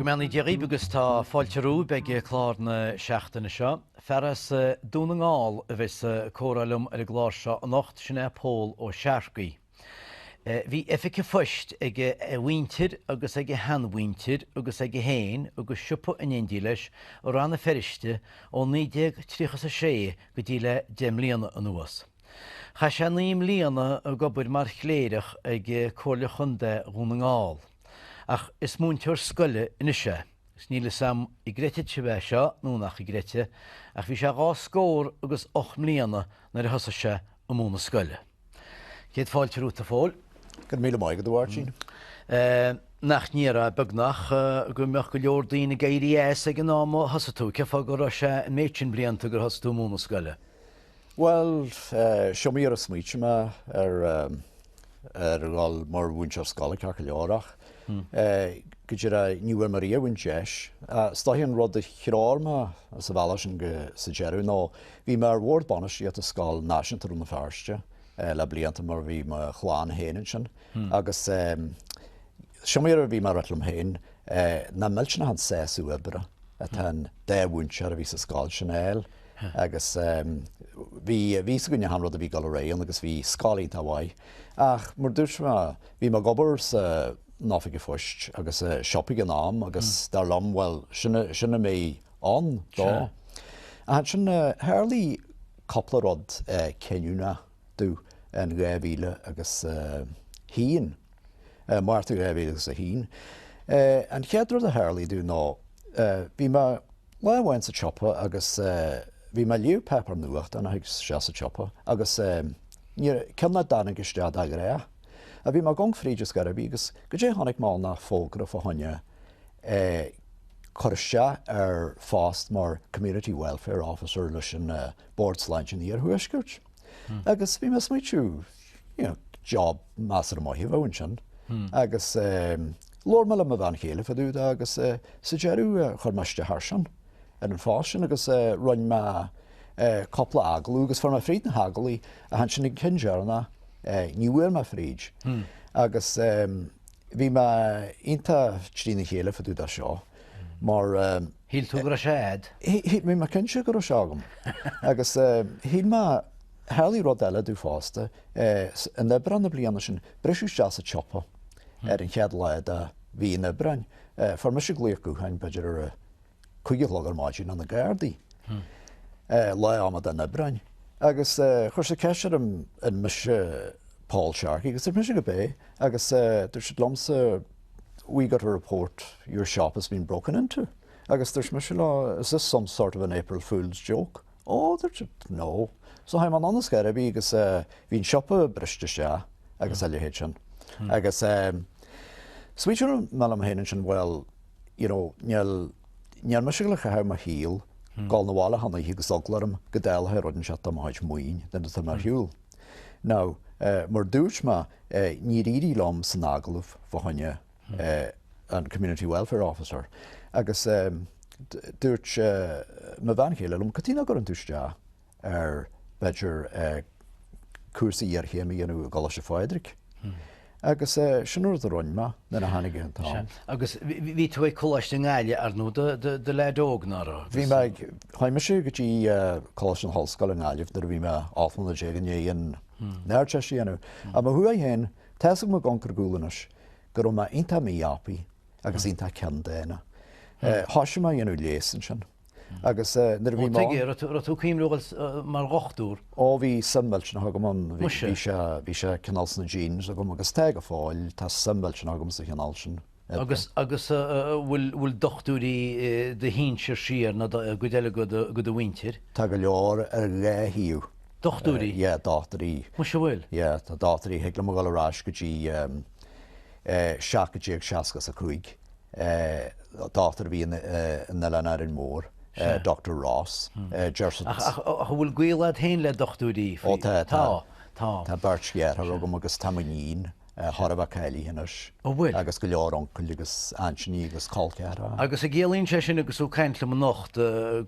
Go mbeannaí Dia dhaoibh agus tá fáilte romhaibh ag clár na seachtaine seo. Fear as Dún na nGall a bheas ag comhrá liom ar an gclár seo anocht, sin é Pól Ó Searcaigh. Bhí oifig an phoist ag a mhuintir agus ag a sheanmhuintir agus aige féin agus siopa in éindí leis i Rann na Feirste ó 1930 is a sé go dtí le deich mbliana anuas. Chaith sé naoi mbliana ag obair mar chléireach ag Comhairle Chontae Dhún na nGall. Ach is múinteoir scoile anois é, agus níl 'fhios a'm an gcreidfidh sibh é seo nó nach gcreidfidh, ach bhí sé dhá scór agus ocht mbliana nuair a thosaigh sé ag múnadh scoile. Céad fáilte romhat a Phóil. Go raibh míle maith agat a Mháirtín. Nach ndéarfá, beagnach, go mbeadh go leor daoine ag éirí as ag an am a thosaigh tú. Cén fáth go raibh sé an méid sin blianta gur thosaigh tú ag múnadh scoile? Bhuel, is iomaí uair a smaoitigh mé ar ar dhul mar mhúinteoir scoile ceart go leor ach go díreach ní bhfuair mé riamh an deis. Is dóigh an rud a threoraigh mé sa bhealach sin go sa deireadh nó bhí mé ar bhord bainistíochta i scoil náisiúnta Rann na Feirste le blianta mar bhí mo chlann féin ansin agus is iomaí uair a bhí mé ag ráit liom féin nach millteanach an sásamh oibre atá an dá mhúinteoir a bhí sa scoil sin a fháil. Agus bhí a fhios againn achan rud a bhí ag dul ar aghaidh ann agus bhí scoil iontach mhaith. Ach mar dúirt mé, bhí mé ag obair san Oifig an Phoist agus i siopa ag an am agus dar liom, bhuel, sin a mbeidh ann dó. Ach ansin tharlaigh cúpla rud cinniúnach domh in 2000 agus a haon, Márta 2000 agus a haon. An chéad rud a tharlaigh domh ná bhí mé, Lá amháin sa tsiopa agus bhí mé ag léamh páipéar nuachtáin istigh sa tsiopa agus cionn a dtáinig isteach go díreach a bhí mé ag amharc fríd is gairbh í agus goidé a chonaic mé ann ach fógra fá choinne é cur isteach ar phost mar Community Welfare Officer leis an Bord Sláinte an Iarthuaiscirt. agus bhí mé ag smaoitiú you know job measartha maith a bheadh ansin agus labhair mé le mo bhean chéile fá dtaobh dó agus sa deireadh chuir mé isteach air sin ar an phost sin agus rinn mé cúpla agallamh agus fuair mé fríd na hagallaimh ach ansin an cionn deireanach ní bhfuair mé fríd agus bhí mé iontach trína chéile fá dtaobh dó seo mar Shíl tú go raibh sé a'd? Shíl mé, mé cinnte go raibh sé agam. Agus shíl mé, tharlaigh rud eile domh fosta, in Aibreán na bliana sin, briseadh isteach sa tsiopa ar an chéad lá de mhí an Aibreáin, fuair mise glaoch gutháin, b'fhéidir ar a cúig a chlog ar maidin, ó na Gardaí, lá amadán Aibreáin. Agus chuir siad ceist orm an mise Paul Sharkey agus dúirt mise gurb ea agus dúirt siad liomsa, we got a report your shop has been broken into agus dúirt mise leofa is this some sort of an April fools joke ó dúirt siad no so chuaigh mé anonn is gairid a bhí agus bhí an siopa briste isteach agus a leithéid sin agus so smaoitigh mé liom féin ansin bhuel you know níl níl mise le caitheamh mo shaol ag gabháil 'na bhaile achan oíche agus eagla orm go dtarlódh rud anseo tá malairt maoin de bheatha ar shiúl Now, mar dúirt mé, níor éirigh liom san agallamh fá choinne an Community Welfare Officer, agus dúirt mo bhean chéile liom, 'Cad chuige nach gcuireann tú isteach ar, b'fhéidir, cúrsa iarchéime a dhéanamh i gColáiste Phádraig? Agus sin an rud a rinn mé nuair a tháinig an t-am. Agus bhí tú ag Coláiste na Gaillimhe, ar ndóigh, i do leaid óg, nach raibh? Bhí mé ag, chuaigh mise go dtí Coláiste na hOllscoile i nGaillimh nuair a bhí mé ocht mbliana déag i ndiaidh an Ardteist a dhéanamh. Ach mo thaobh féin, tá a fhios agam ag amharc ar gcúl anois go raibh mé iontach mí-aibí agus iontach ceanndána. Thoisigh mé a dhéanamh leigheas ansin. Agus nuair a bhí mo. Ó, tuige, an raibh tú ag cuimhniú a ghoil mar dhochtúr? Ó, bhí suim millteanach agam ann, bhí sé, bhí sé cineál sna genes agam agus tá go fóill, tá suim millteanach agam sa chineál sin. Agus, agus bhfuil dochtúirí i do shinsir siar nó i gcuid eile de do mhuintir? Tá go leor ar dhá thaobh. Dochtúirí? Yeah, dochtúirí. Muis a' bhfuil? Yeah, tá dochtúirí, thig liom a dhul ar ais go dtí 17 60 is a cúig. dochtúir a bhí in Oileán Árainn Mór, Doctor Ross, deir siad. Ach an bhfuil gaol a'd féin le dochtúirí? Ó tá, tá. Tá. Tá beirt dhearthár agam agus tá m'iníon chóir a bheith cáilithe anois. An bhfuil? Agus go leor uncail agus aintíní agus col ceathracha. Agus a' gciallaíonn sé sin agus tú ag caint liom anocht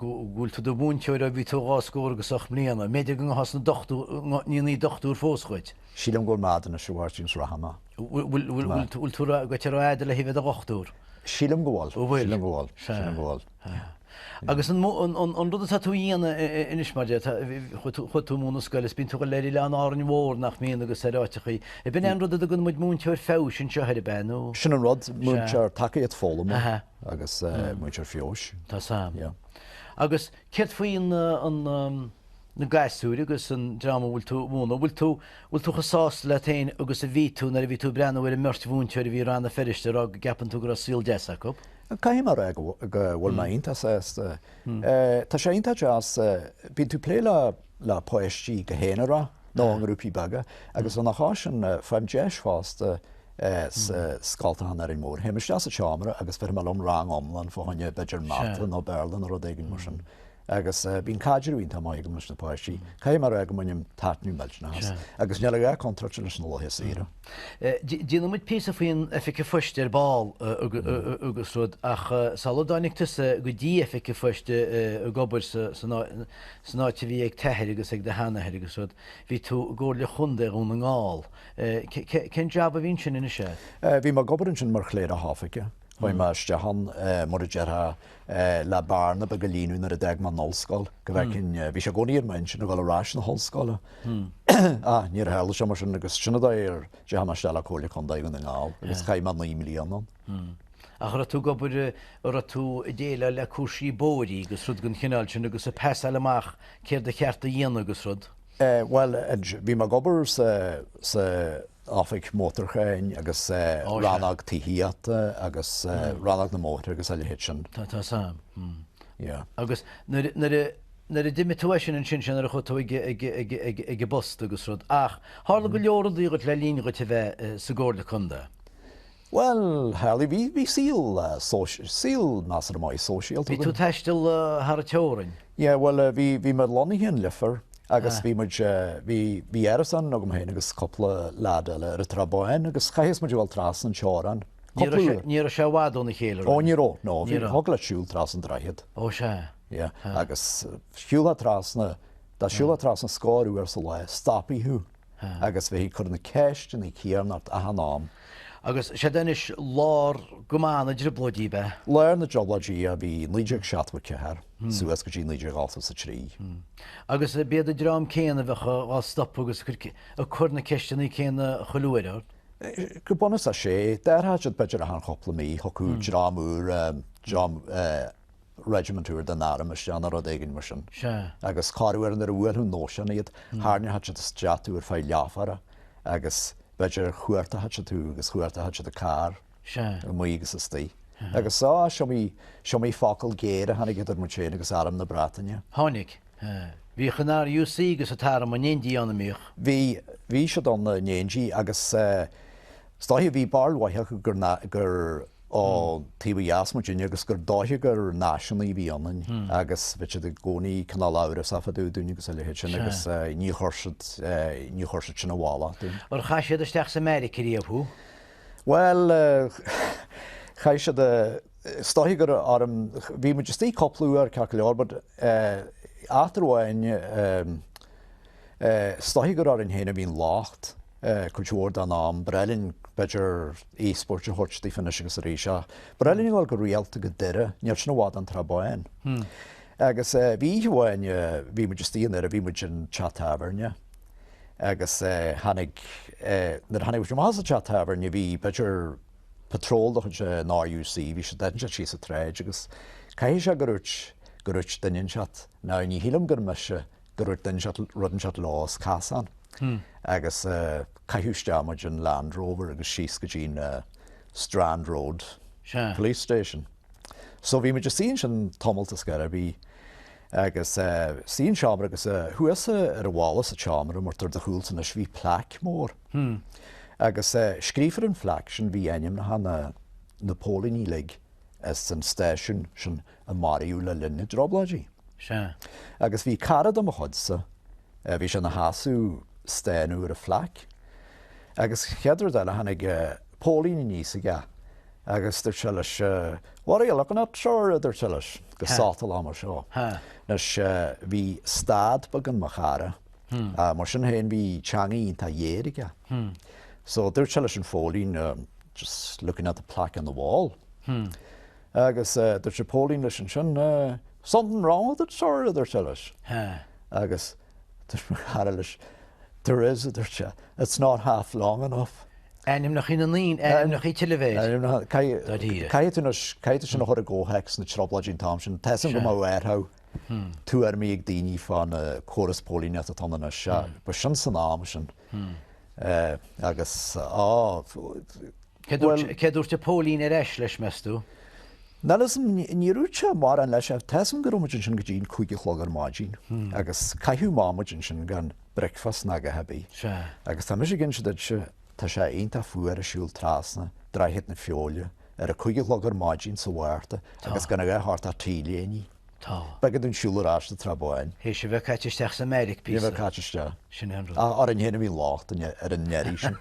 go bhfuil tú i do mhúinteoir ó bhí tú dhá scór agus ocht mbliana, an mb'fhéidir go bhfuil seans ann go ndéanfaí dochtúir fós dhíot? Sílim go bhfuil maide anois, a Mháirtín, is ró-mhall é. Bhfuil tú gaite thar aois le bheith i do dhochtúir? Sílim go bhfuil, sílim go bhfuil, sílim go bhfuil. Sea. Agus an rud atá tú a dhéanamh anois, mar a déarfá, chuaigh tú ag múineadh scoile is bíonn tú ag dul go leor ar Árainn Mhór, nach mbíonn, agus ar áiteachaí. Ab in é an rud a dtugann muid múinteoir feabhais anseo air, ab ea nó? Sin an rud, múinteoir tacaíocht foghlama agus múinteoir feabhais. Tá a fhios agam. Agus céard faoi an, na gasúir agus an dream a bhfuil tú a mhúnadh, bhfuil tú, bhfuil tú chomh sásta leat féin agus a bhí tú nuair a bhí tú ag breathnú ar an mbeirt mhúinteoir a bhí i Rann na Feirste ag rá go gceapann tú go raibh saol deas acu? Caithfidh mé a rá go bhfuil mé iontach sásta. Tá sé iontach deas, bíonn tú ag plé le, le páistí go haonarach nó i ngrúpaí beaga agus lena chois sin faighim deis fosta sna scoltacha in Árainn Mhór, théim isteach sa tseomra agus bheirim liom rang iomlán fá choinne b'fhéidir mata nó Béarla nó rud éigin mar sin. Agus bíonn caidreamh iontach maith agam leis na páistí. Caithfidh mé a rá go mbainim taitneamh millteanach as. Agus níl a dhath contráilte leis na laetha saoire. Déanfaidh muid píosa faoin oifig an phoist ar ball agus rud ach sula dtáinig tusa go dtí oifig an phoist ag obair san áit a bhí ag t'athair agus ag do sheanathair agus rud, bhí tú i gComhairle Chontae Dhún na nGall. Cén jab a bhí ansin anois a. Bhí mé ag obair ansin mar chléireach oifige. Chuaigh mé isteach ann, mar a déarfá, le bearna bheag a líonadh nuair a d'fhág mé an ollscoil, go bhfeicfinn, bhí sé i gcónaí ar m'intinn a dhul ar ais na hollscoile, ach níor tharla sé, mar sin, agus sin a d'fhág go dteachaidh mé isteach le Comhairle Contae Dhún na nGall, agus chaith mé naoi mbliana ann. Ach raibh tú ag obair, raibh tú ag déileáil le cúrsaí bóithrí agus rud den chineál sin agus ag passáil amach céard ba cheart a dhéanamh agus rud? Bhuel, bhí mé ag obair sa, sa, oifig mótarcháin agus rannóg tithíochta agus rannóg na mbóithre agus a leithéid sin. Tá, tá, tá. Yeah. Agus nuair, nuair a, nuair a d'imigh tú as sin ansin sin nuair a chuaigh tú ag, ag, ag, ag, ag an bpost agus rud, ach tharla go leor rudaí dhuit le linn dhuit a bheith sa gComhairle Contae. Bhuel, tharla, bhí, bhí saol social, saol, measartha maith, sóisialta againn. Bhí tú ag taisteal thar an teorainn? Yeah, bhuel, bhí, bhí mé lonnaithe in Leifear agus bhí muid, bhí, bhí árasán agam féin agus cúpla leaid eile ar an tSrath Bán agus chaithfeadh muid a dhul trasna an teorainn, cúpla uair. Ní raibh sé i bhfad óna chéile, raibh? Ó, ní raibh, no, bhí, thiocfadh leat siúl trasna an droichead. Ó, sea. Yeah, agus shiúlfá trasna, dá siúlfá trasna scór uair sa lá, stopfaí thú. agus bheifí ag cur na ceisteanna céanna ort achan am. Agus seod anois lár ama na dtrioblóidí, ab ea? Lár na dTrioblóidí a bhí 1974 suas go dtí 1983. Agus b'iad an dream céanna a bheadh á stopadh agus ag cur na ceisteanna céanna chuile uair ort? Go bunúsach, sea. D'athródh siad b'fhéidir achan chúpla mí, thiocfadh dream úr, dream Regiment úr den arm isteach nó rud éigin mar sin. Sea. Agus corruair nuair a bhuailfeadh an nóisean iad, tharraingeodh siad isteach thú ar feadh leathuaire agus b'fhéidir chuartódh siad thú agus chuartódh siad an carr amuigh agus istigh. Agus só, is iomaí, is iomaí focal géar a tháinig idir muid féin agus arm na Breataine. Tháinig. Bhíodh an RUC agus an t-arm in éindí ann, an mbíodh? Bhí, bhí siad ann in éindí agus is dóiche, bhí barúil acu gur, gur, ón taobh ó dheas muidinne agus gur dóiche gur náisiúnaithe a bhí ionainn agus bheadh siad i gcónaí cineál amhrasach fá dtaobh dúinn agus a leithéid sin agus ní chuir siad, ní chuir siad sin i bhfolach dúinn. Ar chaith siad isteach sa mbeairic riamh thú? Bhuel, chaith siad, is dóiche gur orm, bhí muid istigh cúpla uair, ceart go leor, but, eh, eachtra amháin, eh, Is dóichí gur orainn féin a bhíonn an locht, cuid mhór den am. B'fhearr linn, b'fhéidir, íobairt a thabhairt daofa anois agus arís, ach b'fhearr linn a dhul go rialta go Doire, níl sin i bhfad ón Trá Bháin. Agus bhí oíche amháin, bhí muid istigh i nDoire, bhí muid in teach tábhairne agus tháinig, nuair a tháinig muid amach as an teach tábhairne, bhí, b'fhéidir, patról de chuid an RUC, bhí siad, ag déanamh síos an tsráid agus caithfidh sé gur dúirt, gur dúirt duine inteacht, now ní shílim gur mise Dúirt duine inteacht rud inteacht leo sa chasán agus caitheadh isteach muid in Land Rover agus síos go dtí na Strand Road Police Station. So bhí muid istigh ansin tamalt is carb é bhí agus istigh in seomra agus thuas ar an bhalla sa tseomra mar atá ar do chúl anois bhí plaic mór agus scríofa ar an phlaic sin bhí ainmneacha na na póilíní uilig as an stáisiún sin a maraíodh le linn na dTrioblóidí. Sea. Agus bhí cara de mo chuidsa, bhí sé ina sheasamh ag stánadh ar an phlaic, agus chéad rud eile tháinig póilín aníos aige agus dúirt sé leis, What are you looking at, sir? a dúirt sé leis, go sotalach mar seo. Anois, bhí stad beag in mo chara, mar sin féin bhí teanga iontach ghéar aige. So dúirt sé leis an phóilín, Just looking at the plaque on the wall. Agus dúirt an póilín leis ansin, Something wrong with it, sir? a dúirt sé leis. Agus dúirt mo chara leis, There is, a dúirt sé, it's not half long enough. Ainmneacha na ndaoine, ainmneacha Chill Mhéire. Ainmneacha, caithfidh tú caithfidh tú sin a chur i gcomhthéacs na Trioblóidí an t-am sin. Tá a fhios agam go mb'fhéidir go n-athródh tuairimí ag daoine fán chóras póilíneachta atá ann anois, ba sin san am sin. Agus á, Bhuel. Céard a dúirt an póilín ar ais leis, meas tú? Bhuel, is níor úirt sé mórán leis ach tá 's agam go raibh muid ansin go dtí an cúig a chlog ar maidin agus caitheadh amach muid ansin gan bricfeast ná a dhath ar bith. Sea. Agus tá mise ag inse duit, tá sé iontach fuar ag siúl trasna Droichead na Feoile ar a cúig a chlog ar maidin sa Mhárta agus gan a dhath ort ach T-léinidh. Tá. B'fhada an siúl ar ais sa Trá Bháin. Théis a bheith caite isteach sa mbeairic píosa. Bheith caite isteach. Sin é an rud. Ach orainn fhéin a bhí an locht, ar an éirí sin.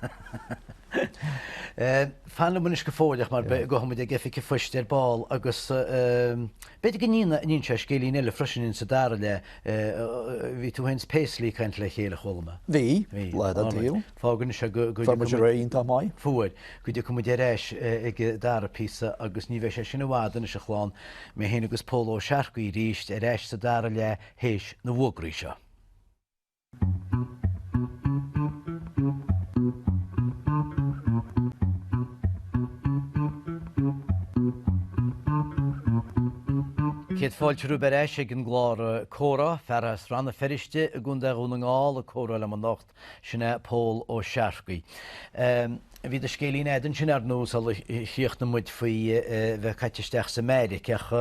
Fan liom anois go fóill, ach mar beidh, gabhfaimid go hoifig an phoist ar ball agus b'fhéidir go n-inseoidh sé scéilín eile freisin in sa dara leath. Bhí tú fhéin 's Paisley ag caint le chéile, chuala mé. Bhí, lá den tsaol. Fágann sé go. Fuair muid ar aghaidh iontach maith. Fuair. Go dtiocfaidh muid ar ais ag an dara píosa agus ní bheidh sé sin i bhfad anois, a chlann, mé féin agus Pól Ó Searcaigh arís ar ais sa dara leath théis na bhfógraí seo. Céad fáilte romhaibh ar ais ag an gclár Comhrá, fear as Rann na Feirste i gContae Dhún na nGall ag comhrá liom Sin é Pól Ó Searcaigh. Bhí do scéilín agat ansin ar ndóigh sular chríochnaigh muid faoi bheith caite isteach sa mbeairic ach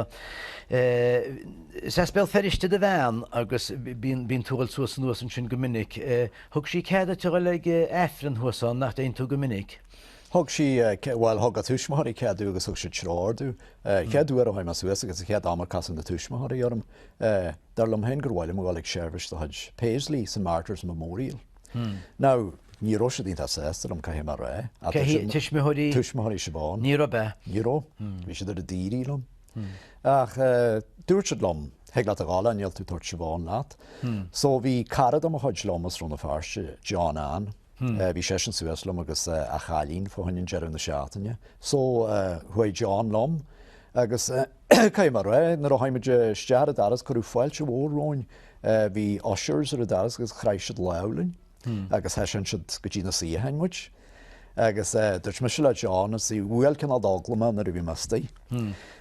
is as Béal Feirste do bhean agus bíonn tú ag dul suas anuas ansin go minic. Thug sí cead duit a dhul ag Aifreann thuas ann, nach dtéann tú go minic? Thug sí, bhuel thug a tuismitheoirí cead domh agus thug siad treoir domh. Chéad uair a chuaigh mé suas agus an chéad am a casadh na tuismitheoirí orm, Dar liom féin gur mhaith liom a dhul ag seirbhís de chuid Paisley sa Martyrs Memorial. Now, ní raibh siad iontach sásta liom, caithfidh mé a rá. Tuismitheoirí? Tuismitheoirí Siobhán. Ní raibh, ab ea? Ní raibh. Bhí siad ar an daoraí liom. Ach dúirt siad liom, thig leat a dhul ann, níl tú ag tabhairt Siobhán leat. So bhí cara de mo chuid liom as Rann na Feirste, John Ann, bhí seisean suas liom agus a chailín fá choinne an deireadh na seachtaine. So chuaigh John liom agus. Caithfidh mé a rá, nuair a chuaigh muid isteach ar an doras, cuireadh fáilte mhór romhainn. Bhí ushers ar an doras agus chraith siad lámh linn agus thaiseáin siad go dtí na suíocháin muid. Agus dúirt mise le John, is í bhuail cineál d'eagla mé nuair a bhí mé istigh,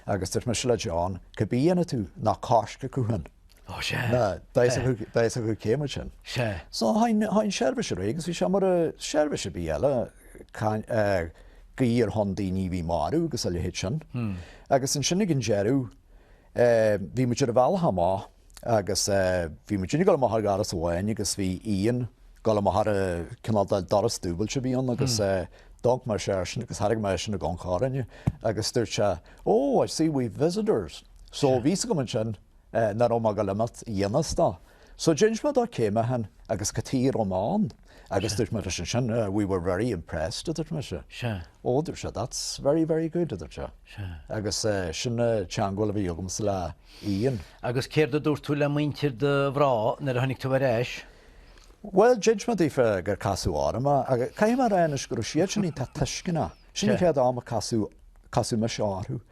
agus dúirt mise le John, cibé a dhéanfaidh tú, ná coisric thú féin. Ó, sea. Nó beidh fhios acu cé muid féin. Sea. So, chuaigh an tseirbhís ar aghaidh agus bhí sé mar seirbhís ar bith eile, guí ar shon daoine a bhí marbh agus a leithéid sin. Agus ansin ag an deireadh, bhí muid ar an bhealach amach agus bhí muid uilig ag dul amach ar dhoras amháin agus bhí Ian ag dul amach ar an cineál de doras dúbailte a bhí ann agus d'amharc mise airsean agus tharraing mé é sin i gcóngar orainne agus dúirt sé, Oh, I see we've visitors. So, bhí fhios agam ansin, é nach raibh mé ag dul a imeacht i ngan fhios dó. So d'inis mé dó cé mé féin agus cad chuige a raibh mé ann agus dúirt mé leis ansin we were very impressed, a dúirt mise. Ó, a dúirt sé, that's very, very good, a dúirt sé. Agus sin an teangmháil a bhí agamsa le Ian. Agus céard a dúirt tú le muintir do mhná nuair a tháinig tú ar ais? Bhuel, d'inis mé daofa gur casadh orm é agus caithfidh mé a rá anois go raibh siadsan iontach tuisceanach. Sin an chéad am a casadh mise orthu.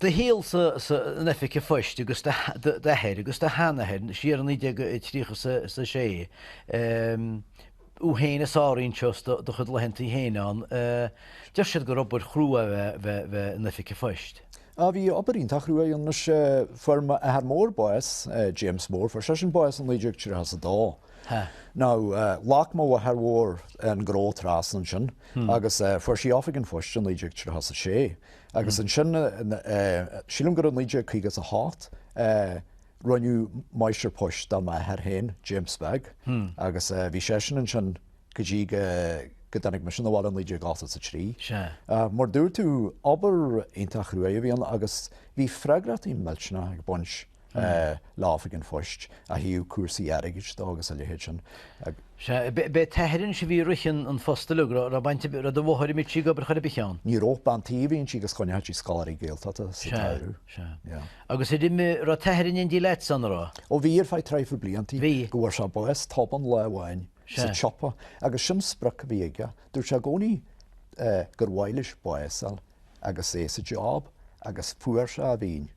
do shaol san oifig an phoist agus d'athair agus do sheanathair siar i 1936 thú féin a sáraíonn seo do chuid laethanta féin ann deir siad gur obair chrua a bheith in oifig an phoist. Á bhí obair iontach chrua ann is ea fuair m'athair mór bás James Mór fuair seisean bás i 1932 nó ghlac mo mháthair mhór an gnó trasna ansin agus fuair sí oifig an phoist i 1936 Agus ansin, sílim gur i 1958, rinneadh Máistir Poist de m'athair féin, James Beag, agus bhí seisean ansin go dtí go dtáinig mise abhaile i 1983. Mar a dúirt tú, obair iontach chruaidh a bhí ann agus bhí freagrachtaí millteanach ag baint le hoifig an phoist, ó thaobh cúrsaí airgid dó agus a leithéid sin. Sea, b'é t-athair anois a bhí ag rith an phoist uilig, an raibh baint ar bith, do mháthair, mbíodh sí ag obair chor ar bith ann. Ní raibh bean tí a bhí inti agus choinneochadh sí scoláirí Gaeltachta sa tsamhradh. Sea, sea. Agus ar imigh, raibh t-athair in éindí leat san, a raibh? Ó bhí, ar feadh traidhfil bliantaí. Bhí. Go bhfuair sé bás tobann lá amháin sa tsiopa agus sin sprioc a bhí aige, dúirt sé i gcónaí gur mhaith leis bás fháil. agus é sa job agus fuair sé a mhian.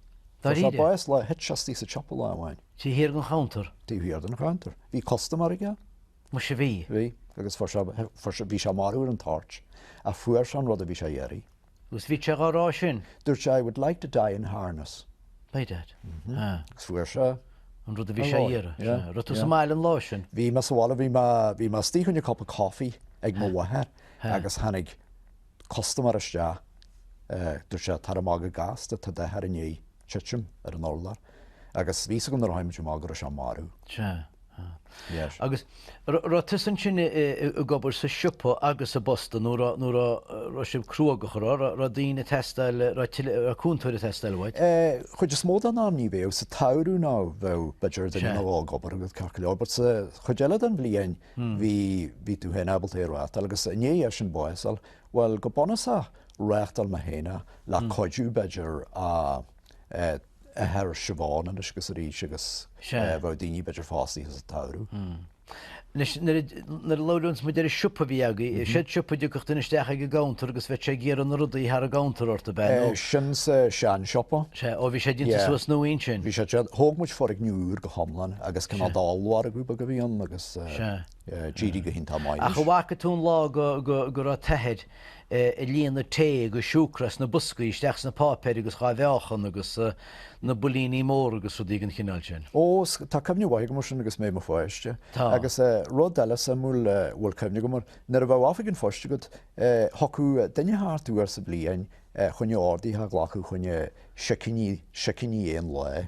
Fuair sé bás lá a thit sé istigh sa tsiopa lá amháin. Taobh thiar den chuntar? Taobh thiar den chuntar. Bhí custaiméir aige. Muise bhí. Bhí. Agus fuair sé, fuair sé, bhí sé marbh ar an toirt ach fuair sé an rud a bhí sé a iarraidh. Agus bhí sé dhá rá sin? Dúirt sé, I would like to die in harness. By dad. Mhm. Agus fuair sé. an rud a bhí sé a iarraidh. Yeah. Yeah. Raibh tú sa mbaile an lá sin? Bhí mé sa bhaile, bhí mé, bhí mé istigh a choinne cupa coffee ag mo mháthair agus tháinig, custaiméir isteach. Dúirt sé, Tar amach go gasta, tá d'athair i ndiaidh titim ar an urlár. Agus bhí a fhios agam nuair a tháinig muid amach go raibh sé marbh. Sea. Yes. Agus raibh tusa ansin ag obair sa siopa agus sa bposta nó raibh, raibh sibh cruógach, a raibh, raibh daoine ag teastáil, raibh tuilleadh, raibh cúntóir ag teastáil uait? Chuid is mó den am ní bheadh, sa tsamhradh nó bheadh, b'fhéidir duine amháin ag obair agat, ceart go leor, but sa chuid eile den bhliain, bhí, bhí tú féin ábalta é a reáchtáil agus i ndiaidh dósan bás a fháil, bhuel, go bunúsach reáchtáil mé féin é, le cuidiú b'fhéidir a athair Siobhán anois agus arís agus bheadh daoine b'fhéidir fostaithe sa tsamhradh. Anois nuair a, nuair a labhraíonn muid ar an siopa a bhí agaibh, ar shean siopa a dtiocfadh duine isteach ag an gcounter agus bheadh sé ag iarraidh na rudaí thar an gcounter ort, ab ea? No. É sin sa sean siopa. Sea, ó bhí sé déanta suas nua ansin? Bhí sé déanta, thóg muid foirgneamh úr go hiomlán. agus cineál d'ollmhargadh beag a bhí ann agus d'éirigh go hiontach maith leis. Ach an bhfaca tú an lá go raibh t'athair ag líonadh tae agus siúcra as na boscaí isteach sna páipéir agus dhá mheáchan agus na builíní móra agus rudaí den chineál sin? Ó, tá cuimhne mhaith agam ar sin agus mé i mo pháiste. Tá. Agus rud eile suimiúil a bhfuil cuimhne agam air, nuair a bheadh oifig an phoist agat, thiocfadh duine thart uair sa bhliain fá choinne orduithe a ghlacadh fá choinne sicíní, sicíní aon lae.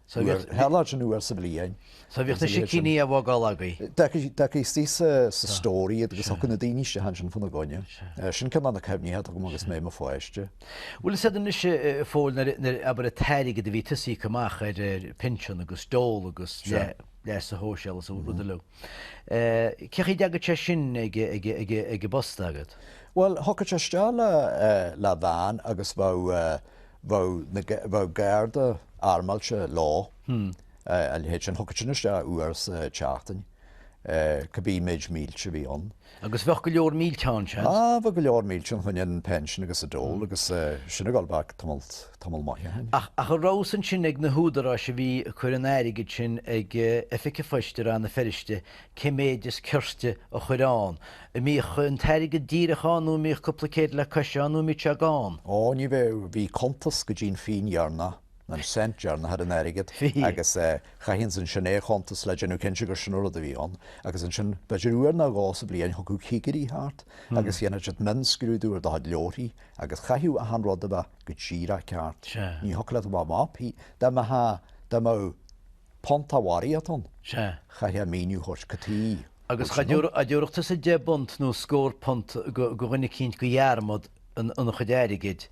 Sa bhealach sin uair sa bhliain. So bhíodh na sicíní á bhfágáil agaibh? D'fheictí istigh sa stór iad agus thiocfadh na daoine isteach ansin fána gcoinne. Sin ceann de na cuimhní atá agam agus mé i mo pháiste. Bhuel, is fhada anois é fóill nuair, abair, an t-airgead a bhí tusa ag íoc amach ar pinsean agus dole agus leasa shóisialaigh agus rudaí uilig. Cé chaoi a dteagadh sé sin ag an bpost agat? Bhuel, thiocfadh sé isteach le veain agus bheadh. bheadh garda armáilte leo, a leithéid sin, thiocfadh sin isteach uair sa tseachtain, cibé méid mílte a bhí ann. Agus bheadh go leor mílte ann, seans? Á, bheadh go leor mílte ann, fá choinne an pension agus an dole agus sin ag gabháil back tamall maith ó shin. Ach an raibh a fhios ansin ag na húdaráis a bhí ag cur an airgid sin ag oifig an phoist i Rann na Feirste, cé méid is cirte a chur ann. An mbíodh an t-airgead díreach ann nó an mbíodh cúpla céad le cois ann nó an mbíodh sé gann? Ó, ní bheadh, bhí cuntas go dtí'n phingin dheireanach, an cent deireanach, ar an airgead agus chaithfinnse ansin é a chuntas le déanamh cinnte gur sin an rud a bhí ann. Agus ansin, b'fhéidir uair nó dhó sa bhliain thiocfadh cigirí thart agus dhéanfadh siad mionscrúdú ar do chuid leabharthaí agus chaithfeadh achan rud a bheith go díreach ceart. Ní thiocfadh leat a bheith amach, dá mbeadh, dá mbeadh, Punt de bharraíocht ann, Sea. chaithfeá míniú a thabhairt cad chuige, Agus dá dtabharfadh tusa deich bpunt nó scór punt go dhuine eicínt go dhearmad ina chuid airgid,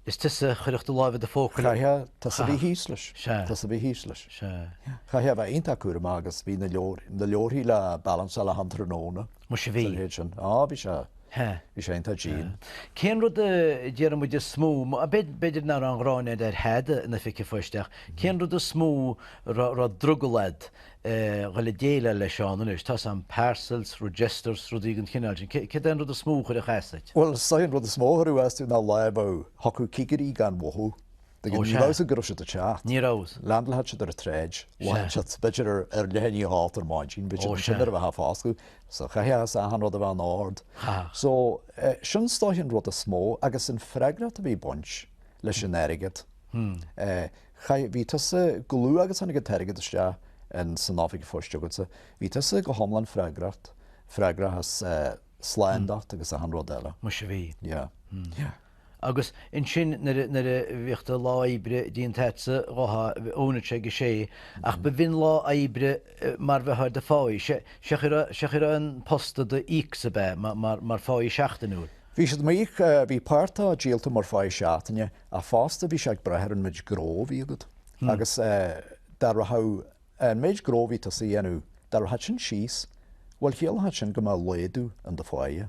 is tusa a chuirfeadh do láimh i do phóca leis. chaithfeá tusa a bheith thíos leis, Sea. tusa a bheith thíos leis. Sea. chaithfeá a bheith iontach cúramach agus bhí na leabhair, na leabharthaí le balanceáil achan tráthnóna. Muise bhí. Sa mhéid sin. Á, bhí sé. Hea. Bhí sé iontach dian. Cén rud a déarfaidh muid is mó, b'fhéidir nach raibh an ghráin a'd ar thada in oifig an phoist ach, cén rud is mó a raibh drogall a'd a dhul a déileáil leis ann anois, tá 's a'm, parcels, registers, rudaí den chineál sin, céard é an rud is mó a chuirfeadh as duit? Bhuel, is dóigh an rud is mó a chuirfeadh as domh ná lá a bheadh, thiocfadh cigirí gan mhothú. Ó, sea. Ní raibh a fhios agat go raibh siad ag teacht. Ní raibh. Landálfadh siad ar an tsráid, b'fhéidir ar leath i ndiaidh a hocht ar maidin, b'fhéidir Ó, sea. sula raibh muid ag foscladh, so chaithfeadh achan rud a bheith in ord. Chaithfeadh. So, eh, sin is dóigh an rud is mó agus an freagracht a bhí ag baint leis an airgead. Eh, chaith- bhí tusa chomh luath agus tháinig an t-airgead isteach in san oifig phoist agatsa, bhí tusa go hiomlán freagrach, freagrach as eh, slándacht agus achan rud eile. Muise bhí. Yeah. Yeah. Agus ansin nuair a bhíodh do lá oibre déanta agatsa, dhúnadh sé ag a sé, ach ba bhinn lá oibre mar bheadh ar do pháighe, siocair a raibh an posta do d'íocsa ab ea, mar pháighe seachtainiúil. Bhí siad ag m'íoc, bhí páirt de díolta mar pháighe seachtaine, ach fosta bhí sé ag brath ar an méid gnó a bhí agat, agus dá rachadh an méid gnó a bhí tusa a dhéanamh, dá rachadh sin síos, bhuel chiallódh sin go mbeadh laghdú in do pháighe.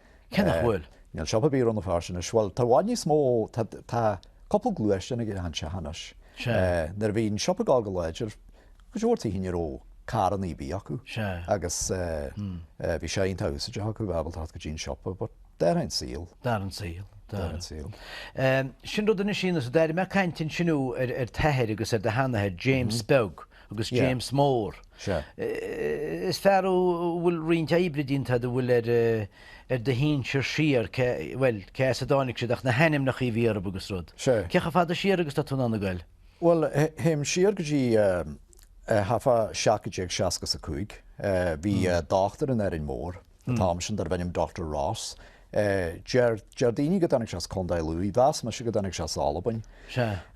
Cé nach bhfuil. Níl siopa ar bith i Rann na Feirste anois. Bhuel, tá i bhfad níos mó, tá, tá cúpla gluaisteán ag achan teach anois. Sea. Nuair a bhí an siopa ag gabháil go láidir, go leor tithe ní raibh carrannaí ar bith acu. Sea. Agus eh, bhí sé iontach úsáideach acu, ábalta theacht go dtí an siopa, but d'athraigh an saol. D'athraigh an saol. D'athraigh an saol. Sin rud anois, is d'airigh mé caint ansin ar t'athair agus ar do sheanathair, James Beag. Agus James Mór. Is fear thú a bhfuil roinnt oibre déanta agat, a Phóil, ar do shinsir siar, bhuel, cé as a dtáinig siad ach na hainmneacha a bhí orthu agus rud. Cé chomh fada siar agus atá tú in ann a ghoil? Bhuel, théim siar go dtí thart fá 1760 is a cúig. Bhí dochtúir in Árainn Mhór an t-am sin darbh ainm Doctor Ross. Deir daoine go dtáinig sé as Contae Lú, mheas mise go dtáinig sé as Albain.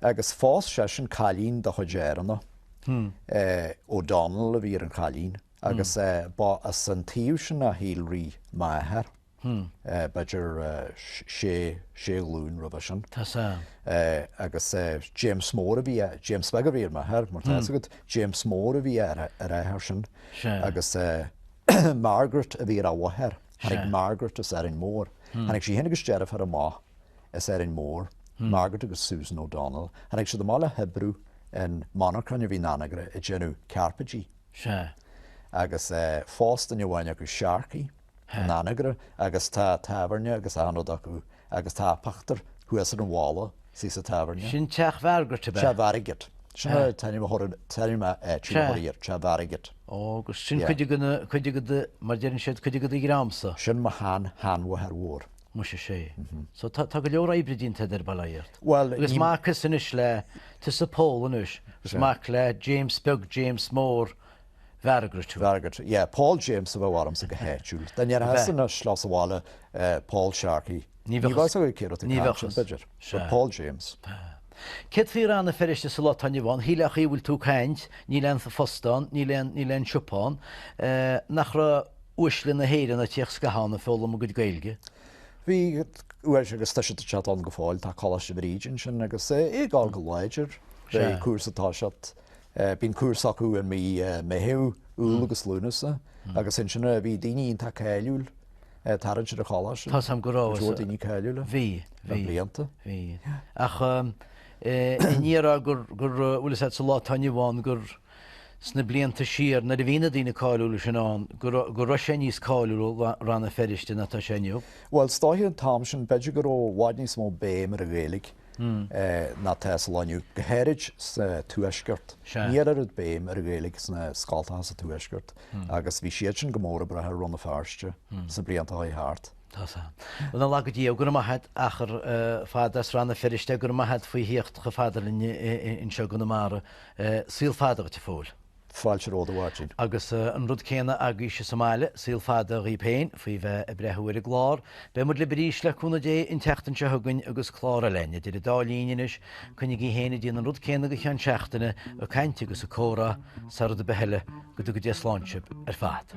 Agus phós seisean cailín de chuid Áranna, O'Donnell a bhí ar an chailín, agus ba as an taobh sin a shíolraigh m'athair, b'fhéidir sé ghlúin roimhe sin. Agus James Mór a bhí, James Beag a bhí ar m'athair, mar tá a fhios agat, James Mór a bhí ar a athair sin. Margaret a bhí ar a mháthair. Tháinig Margaret as Árainn Mhór. Tháinig sí féin agus deirfiúr amach as Árainn Mhór, Margaret agus Susan O'Donnell. Tháinig siad amach le hoibriú in monarchain a bhí in Anagaire ag déanamh carpéidí. Agus phós duine amháin acu Sharkey in Anagaire agus tá tábhairne agus achan rud acu Agus tá pictiúr thuas ar an bhalla istigh sa tábhairne. Sin teach Mhargaret ab ea? Teach Mhargaret. Sin an t-ainm atá air, Teach Mhargaret. Ó, agus sin cuid de na, cuid de na, mar deireann siad, cuid de do dhreamsa. Sin mo shean, sheanmháthair mhór. Muise sé. So tá, tá go leor oibre déanta agat, bail ó Dhia ort. Bhuel, ní. Agus mac thusa anois le, tusa Pól anois, agus mac le James Beag, James Mór, Mhargaret. Mhargaret, yeah. Paul James a bheadh ormsa go háitiúil. Dá ndéarfása na sliocht sa bhaile Paul Sharkey, ní bheadh a fhios acu cérbh é an ceann sin, b'fhéidir. Sea. Paul James. Céard faoi Rann na Feirste sa lá atá inniu ann, shíl Eochaidh a bhfuil tú ag caint, níl aon phost ann, níl aon, níl aon siopa ann. Nach raibh uaisle na hÉireann ag tíocht scaitheamh ann ag foghlaim a gcuid Gaeilge? Bhí uaisle agus tá siad ann go fóill, tá Coláiste Bhríde ansin agus é ag gabháil go láidir. Sea. Beidh cúrsa, tá siad, Eh bíonn cúrsa acu i mí eh Meitheamh, Iúil agus Lúnasa agus ansin eh bhí daoine iontach cáiliúil ag tarraingt ar an choláiste. Tá 's a'm go rabhas. Go leor daoine cáiliúil eh. Bhí, bhí. Le blianta. Bhí. Ach eh i ndiaidh a rá gur, gur eh bhuel tá's a'd sa lá atá inniu ann gur sna blianta siar nuair a bhí na daoine cáiliúla sin ann gur, go raibh sé níos cáiliúla, Rann na Feirste ná atá sé inniu. Bhuel 's dóigh an t-am sin b'fhéidir go raibh i bhfad níos mó béime ar an Ghaeilge. ná atá sa lá inniu, go háirid sa Tuaisceart. Ní raibh oiread béim ar an Ghaeilge sna scoltacha sa Tuaisceart agus bhí siad sin go mór ag brath ar Rann na Feirste sna blianta a chuaigh thart. Tá sa. Bhuel, lá go dtí é, go raibh maith a't, achar fada as Rann na Feirste, go raibh maith a't faoi thíocht chomh fada linn anseo i gConamara. Saol fada dhuit, a Phóil. Fáilte romhat a Mháirtín. Agus an rud céanna agaibhse sa mbaile, saol fada dhaoib féin, faoi bheith ag breathnú ar an gclár. Beidh muid lib arís, le cúnamh Dé, an tseachtain seo chugainn agus clár eile a'inn. Idir an dá linn anois, coinnigí féin ag déanamh an rud céanna go ceann seachtaine, ag caint agus ag comhrá, sara dtaga bliain eile, go dtuga Dé slán sib ar fad.